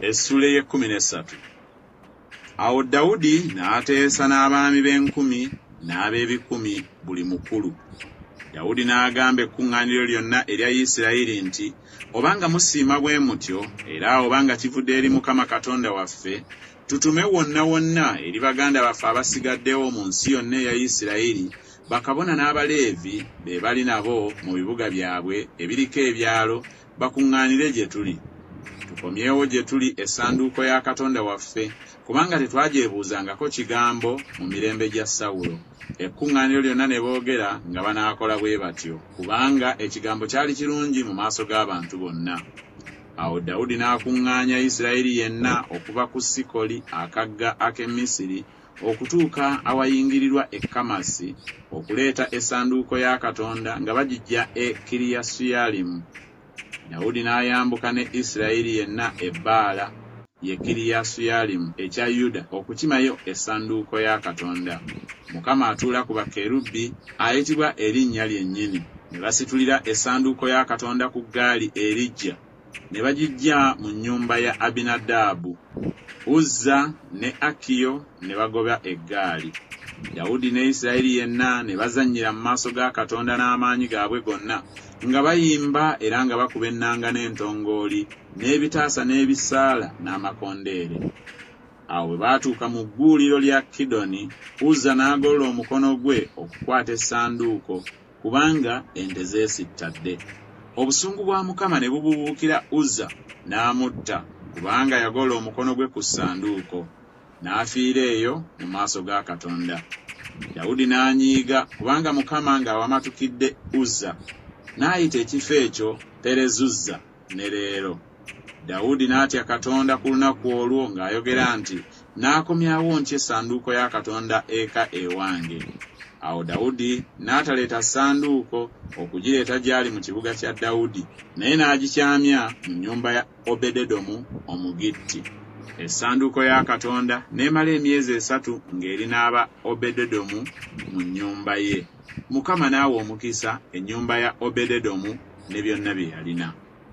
Essula ey'ekkumi n'essatu Awo Dawudi n'ateesa n'abaami b'enkumi n'ab'ebikumi buli mukulu. Dawudi n'agamba ekkuŋŋaaniro lyonna erya Isirayiri nti, Obanga musiima bwe mutyo, era obanga kivudde eri Mukama Katonda waffe, tutume wonna wonna eri baganda baffe abasigaddewo mu nsi yonna eya Isirayiri, bakabona n'Abaleevi be bali nabo mu bibuga byabwe ebiriko ebyalo bakuŋŋaanire gye tuli. Tukomyewo gye tuli Essanduuko ya Katonda waffe, kubanga tetwagyebuuzangako kigambo mu mirembe gya Sawulo. Ekkuŋŋaaniro lyonna ne boogera nga banaakola bwe batyo, kubanga Ekigambo kyali kirungi mu maaso g'abantu bonna. Awo Dawudi n'akuŋŋaanya Isirayiri yenna okuva ku Sikoli, akagga ak'e Misiri, okutuuka awayingirirwa e Kamasi, okuleeta Essanduuko ya Katonda nga bagiggya e Kiriyasuyalimu. Dawudi n'ayambuka ne Isirayiri yenna e Baala, ye Kiriyasuyalimu ekya Yuda, okukimayo Essanduuko ya Katonda. Mukama atuula ku bakerubi, ayitibwa erinnya lyennyini. Ne basitulira Essanduuko ya Katonda ku ggaali eriggya. ne bagiggya mu nnyumba ya Abinadaabu, Uzza ne Akiyo ne bagoba eggaali. Dawudi ne Isirayiri yenna ne bazannyira mu maaso ga Katonda n'amaanyi gaabwe gonna, nga bayimba era nga bakuba ennanga n'entongooli, n'ebitaasa n'ebisaala n'amakondeere. Awo bwe baatuuka mu gguuliro lya Kidoni, Uzza n'agolola omukono gwe okukwata Essanduuko, kubanga ente zeesittadde. Obusungu bwa Mukama ne bubuubuukira Uzza, n'amutta, kubanga yagolola omukono gwe ku Ssanduuko, n'afiira eyo mu maaso ga Katonda. Dawudi n'anyiiga, kubanga Mukama ng'awamatukidde Uzza, n'ayita ekifo ekyo Perezuzza, ne leero. Dawudi n'atya Katonda ku lunaku olwo ng'ayogera nti, N'akomyawo ntya essanduuko ya Katonda eka ewange? Awo Dawudi n'ataleeta ssanduuko okugireeta gy'ali mu kibuga kya Dawudi, naye n'agikyamya mu nnyumba ya Obededomu Omugitti. Essanduuko ya Katonda n'emala emyezi esatu ng'eri n'aba Obededomu mu nnyumba ye. Mukama n'awa omukisa ennyumba ya Obededomu ne byonna bye yalina.